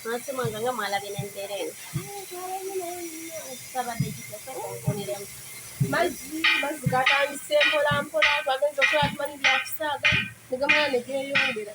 Nasema nganga mwala binendeleni. Sabadde kitese kunkuliremu. Mazzi mazzi gatandise mpola mpola twagenze okola tumanyi byakusaaga ne gamala ne geeyongera.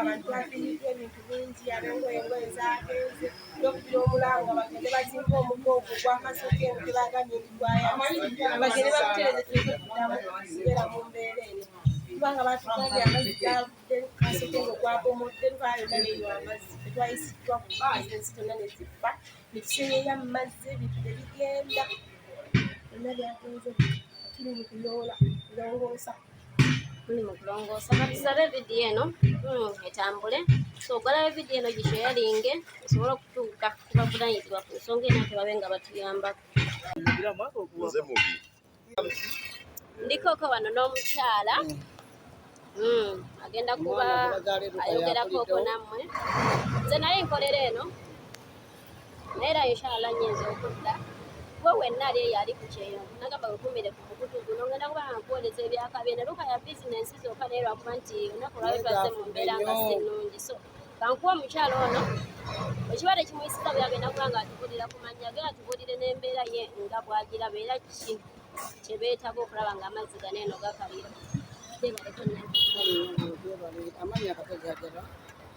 abantu bafiiriddwa ebintu bingi abengoye engoye zagenze nokubira omulanga bagende bazimba omugo ogwo gwakasooka eno tebagambye nti gwayabagende bakutereze tuleke kudamu kubeera mu mbeera eno kubanga batugambye amazzi gavudde kasooka eno gwabomodde twayona neyo amazzi tetwayisiddwa kubizinesi tonna neziffa netusenyeya mu mazzi ebintu nebigenda byonna byagenze tuli mu kuyoola kulongoosa mulimu kulongoosa katusabe vidiyo eno hmm, etambule so ogalayo vidiyo eno gisheyalinge osobola okutuuka kubavunanyizibwa ku nsonga eno tebabe nga batuyambako ndikoko wano n'omukyala hmm, agenda kuba ayogerako oko nammwe nze naye nkolera eno era inshala nyinza okudda gwe wenna ali eyo ali ku kyeyo nagamba wekumire ku mukutu guno ngenda kuba nga nkuwoleza ebyakabye ne luka ya bizinensi zokka naye lwakuba nti olunaku lwayo twaze mu mbeera nga si nnungi so kankuwa omukyalo ono ekiba tekimuyisiza bwe yagenda kuba nga atubulira ku mannya ge atubulire n'embeera ye nga bwagiraba era ki kye beetaga okulaba nga amazzi gano eno gakalira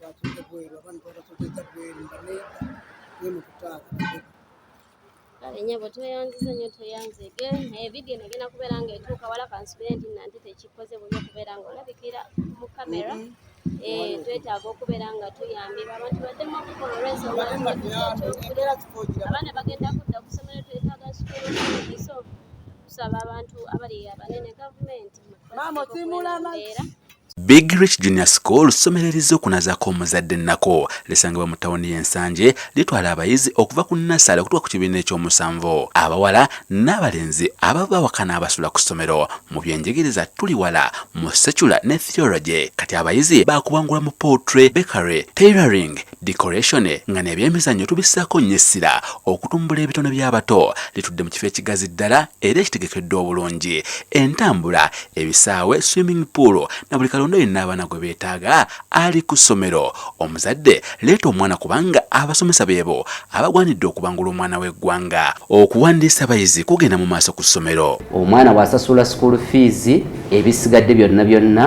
batudde bweru abantu babatudde bweru nga neeta nemukutaaka abenyabo tweyanziza nyo tweyanzege naye vidiyo eno egenda kubeera nga etuuka wala kansubire nti nanti tekikoze buli okubeera nga olabikira mu kamera mm-hmm. eh, twetaaga okubeera nga tuyambibwa abantu baddemu okukola olwensongaabaana bagenda kudda ku ssomero twetaaga sukuluiso tusaba abantu abali abanene gavumenti maama osimula amazzi Big Rich Junior School ssomero eriz'okunazaako omuzadde ennako lisangibwa mu tawuni y'e Nsanje litwala abayizi okuva ku nnasaale okutuuka ku kibiina eky'omusanvu abawala n'abalenzi ababa bawaka n'abasula ku ssomero mu byenjigiriza tuli wala mu secular ne theology kati abayizi baakubangula mu poultry bakery tailoring decoration nga nebyemizannyo tubissaako nnyo essira okutumbula ebitone by'abato litudde mu kifo ekigazi ddala era ekitegekeddwa obulungi entambula ebisaawe swimming pool na buli kalonda yenna abaana gwe beetaaga ali ku ssomero omuzadde leeta omwana kubanga abasomesa beebo abagwanidde okubangula omwana w'eggwanga okuwandiisa abayizi kugenda mu maaso ku ssomero omwana wasasula school fees ebisigadde byonna byonna